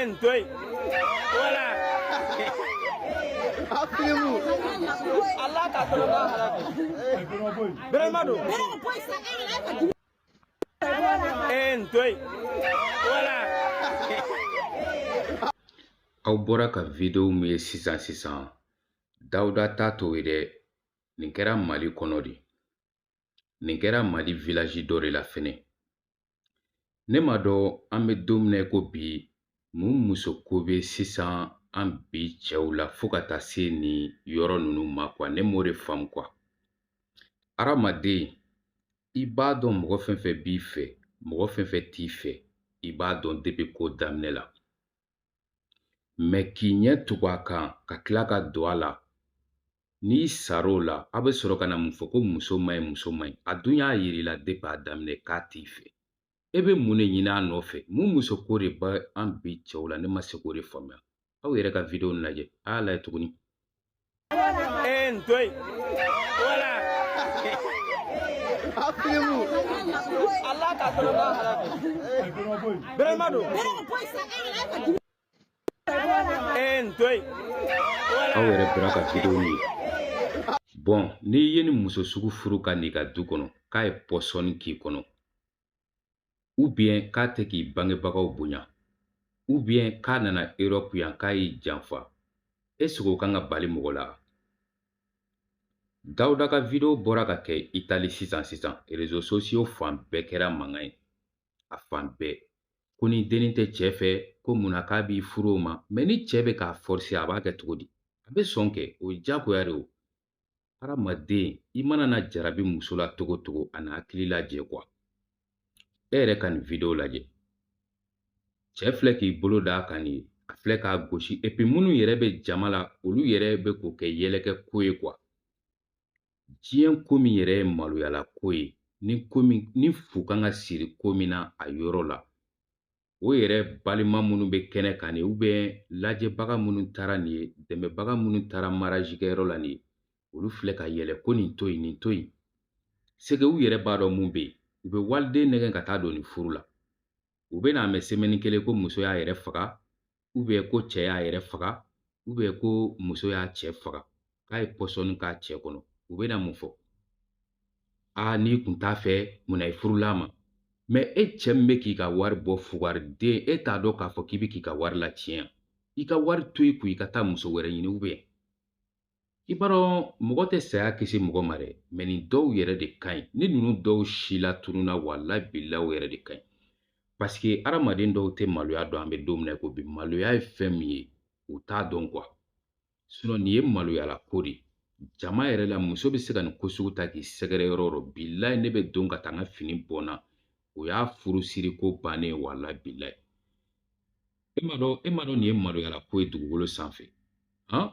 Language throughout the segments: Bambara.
En toi. Voilà. Appelez-vous. Allah ka tolo ba halaki. Vraiment do. En toi. Voilà. Aw bɔra ka video min ye sisan sisan dawuda ta t'o ye dɛ nin kɛra mali kɔnɔ de nin kɛra mali vilaji dɔ de la fɛnɛ ne m'a dɔn an bɛ don min na ko bi mun muso ko bɛ sisan an bi cɛw la fo ka taa se nin yɔrɔ ninnu ma kuwa ne m'o de faamu kuwa hadamaden i b'a dɔn mɔgɔ fɛn fɛn b'i fɛ mɔgɔ fɛn fɛn t'i fɛ i b'a dɔn depi ko daminɛ la mɛ k'i ɲɛ tugu a kan ka tila ka don a la n'i sar'o la a bɛ sɔrɔ ka na mun fɔ ko muso man ɲi muso man ɲi a dun y'a yir'i la depi a daminɛ k'a t'i fɛ e bɛ mun de ɲini a nɔfɛ mun muso ko de bɛ an bi cɛw la ne ma se k'o de faamuya aw yɛrɛ ka videwo nin lajɛ a y'a lajɛ tuguni En toi. Voilà. Appelez-vous. Allah ka tɔrɔ n'a halaki. Bɛrɛma don. En toi. Aw yɛrɛ bɔra ka video ye. Bɔn n'i ye ni muso sugu furu ka n'i ka du kɔnɔ k'a ye pɔsɔni k'i kɔnɔ ubiyɛn k'a tɛ k'i bangebagaw bonya ubiyɛn k'a nana erɔpu yan k'a y'i janfa ɛsike o kan ka bali mɔgɔ la dawuda ka video bɔra ka kɛ itali sisan sisan rezo sosiyo fan bɛɛ kɛra mankan ye a fan bɛɛ ko ni dennin tɛ cɛ fɛ ko mun na k'a b'i furu o ma mɛ ni cɛ bɛ k'a fɔrise a b'a kɛ cogo di a bɛ sɔn kɛ o ye diyagoya de o hadamaden i mana na jarabi muso la cogo o cogo a na hakili lajɛ kuwa e yɛrɛ ka nin video lajɛ cɛ filɛ k'i bolo da a kan nin ye a filɛ k'a gosi epi minnu yɛrɛ bɛ jama la olu yɛrɛ bɛ k'o kɛ yɛlɛkɛ ko ye kuwa diɲɛ ko min yɛrɛ ye maloyala ko ye ni fu kan ka siri ko min na a yɔrɔ la o yɛrɛ balima minnu bɛ kɛnɛ kan nin ubiyɛn lajɛbaga minnu taara nin ye dɛmɛbaga minnu taara mariyazikɛyɔrɔ la nin ye olu filɛ ka yɛlɛ ko nin to yen nin to yen seke u yɛrɛ b'a dɔn mun bɛ yen u bɛ waliden nɛgɛn ka taa don nin furu la u bɛn'a mɛn semɛni kelen ko muso y'a yɛrɛ faga ko cɛ y'a yɛrɛ faga ubiyɛn ko muso y'a cɛ faga k'a ye pɔsɔni k'a cɛ kɔnɔ u bɛna mun fɔ aa n'i kun t'a fɛ munna i furula a ma mɛ e cɛ min bɛ k'i ka wari bɔ fugariden e t'a dɔn k'a fɔ k'i bɛ k'i ka wari latiɲɛ i ka wari to i kun i ka taa muso wɛrɛ ɲini ubiyɛn i b'a dɔn mɔgɔ tɛ saya kisi mɔgɔ ma dɛ mɛ nin dɔw yɛrɛ de ka ɲi ni ninnu dɔw silatununa wala bilayi o yɛrɛ de ka ɲi paseke adamaden dɔw tɛ maloya dɔn an bɛ don min na ko bi maloya ye fɛn min ye u t'a dɔn kuwa sinɔn nin ye maloyala ko de jama yɛrɛ la muso bɛ se ka nin ko sugu ta k'i sɛgɛrɛ yɔrɔ o yɔrɔ bilayi ne bɛ don ka taa n ka fini bɔ n na o y'a furusiri ko bannen wala bilayi e m'a dɔn e m'a dɔn nin ye maloyala ko ye dugukolo sanfɛ han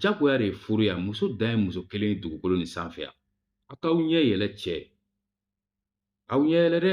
jagoya de ye furu ye wa muso dan ye muso kelen ye dugukolo nin sanfɛ yan a k'aw ɲɛ yɛlɛ cɛ aw ɲɛ yɛlɛ dɛ